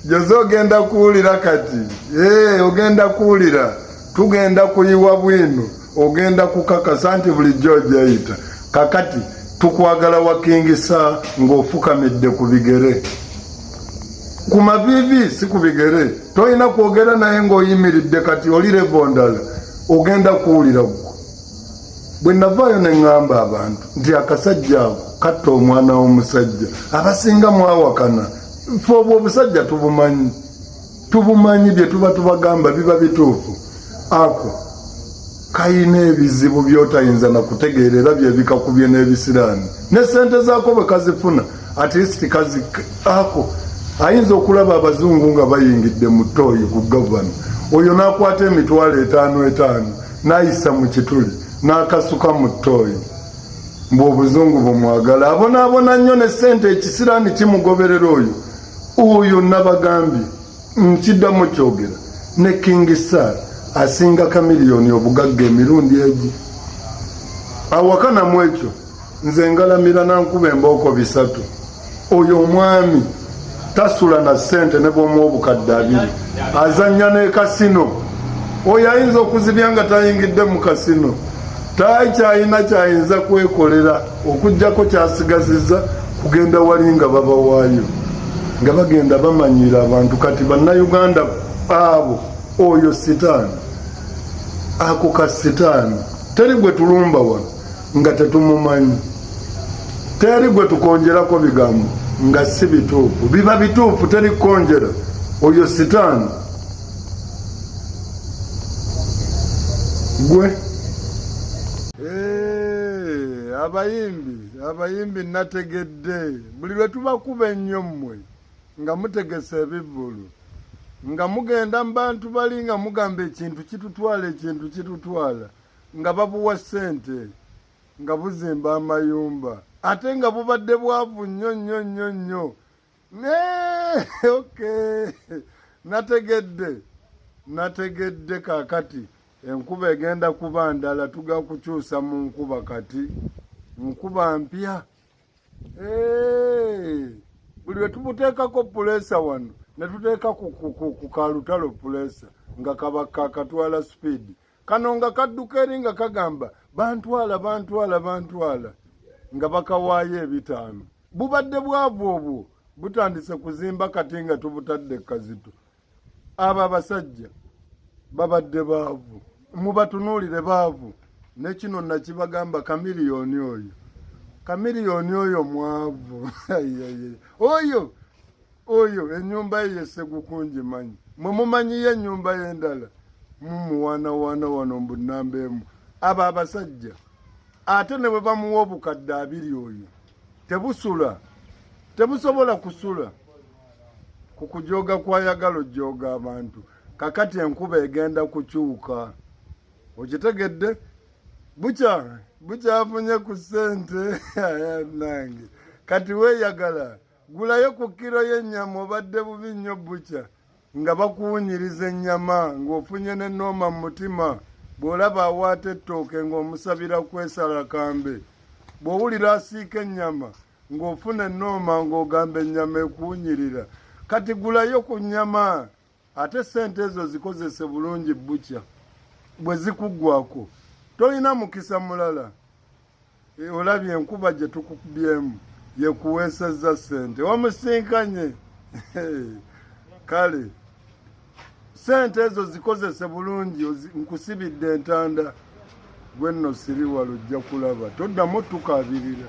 Joze ogenda kuwulira kati ee eh, ogenda kuwulira tugenda kuyiwa bwino ogenda kukakasa nti bulijjo ojayita kakati tukwagala wakingisa ng'ofukamidde ku bigere ku mavivi si ku bigere tolina kwogera naye ng'oyimiridde kati oli levondala ogenda kuwulira gwo bwe navaayo ne ŋŋamba abantu nti akasajja ako katta omwana w'omusajja abasinga mwawakana fe obwo obusajja tubumanyi tubumanyi bye tuba tubagamba biba bituufu ako kalina ebizibu byotayinza na kutegeera era byebikakubye n'ebisiraani ne ssente zaako bwe kazifuna at least kazi ako ayinza okulaba abazungu nga bayingidde mu tooyi ku gavana oyo n'akwata emitwalo etaano etaano nayisa mu kituli n'akasuka mu ttooyi mbu obuzungu bumwagala abonaabona nnyo ne ssente ekisiraani kimugoberera oyo oyo nabagambye nkiddamu kyogera ne king sar asinga kamiliyoni obugagga emirundi egi awakanamu ekyo nze ngalamira nankuba embooko bisatu oyo omwami tasula na sente ne bwomu obukadde abiri azanya ne kasino oyo ayinza okuzibya nga tayingidde mu kasino takyayina kyayinza kwekolera okugjako kyasigaziza kugenda wali nga babawaayo nga bagenda bamanyiira abantu kati bannayuganda abo oyo sitaani ako ka sitaani teri gwe tulumba wano nga tetumumanyi teri gwe tukonjerako bigambo nga si bituufu biba bituufu teri kukonjera oyo sitaani gwe eh, abayimbi abayimbi nategedde buli lwe tubakuba ennyo mmwe nga mutegese ebivulu nga mugenda mu bantu bali nga mugamba ekintu kitutwala ekintu kitutwala nga babuwa ssente nga buzimba amayumba ate nga bubadde bwavu nnyo nnyo nnyo nnyo ok nategedde nategedde kakati enkuba egenda kuba ndala tuga kukyusa mu nkuba kati nkuba mpya buli wetubuteekako puleesa wano netuteeka ku kalutalo puleesa nga kabakakatwala sipiidi kano nga kadduka eri nga kagamba bantwala bantwala bantwala nga bakawaayo ebitaano bubadde bwavu obwo butandise kuzimba kati nga tubutadde kazito abo abasajja babadde baavu mubatunuulire baavu nekino nakibagamba kamiliyoni oyo kamiliyoni oyo mwavu oyo oyo enyumba ye yesegukunji manyi mwe mumanyiyo enyumba yendala mumuwanawana wano mbu namba emu abo abasajja ate ne bwe bamuwa obukadde abiri oyo tebusula tebusobola kusula ku kujoga kwayagala ojoga abantu kakati enkuba egenda kukyuka okitegedde bukya bukyafunye ku sente nange kati weyagala gulayo ku kiro y'ennyama obadde bubi nnyo bukya nga bakuwunyiriza ennyama ng'ofunye ne nooma mu mutima bw'olaba awaata ettooke ng'omusabira kwesala kambe bw'owulira asiika ennyama ng'ofuna ennooma ng'ogamba ennyama ekuwunyirira kati gulayo ku nnyama ate sente ezo zikozese bulungi bukya bwe zikuggwako tolina mukisa mulala e, olabye enkuba gye tukubyemu yekuweesezza sente wamusinkanye kale sente ezo zikozese bulungi nkusibidde entanda gwe nno siriwala ojja kulaba toddamu tukabirira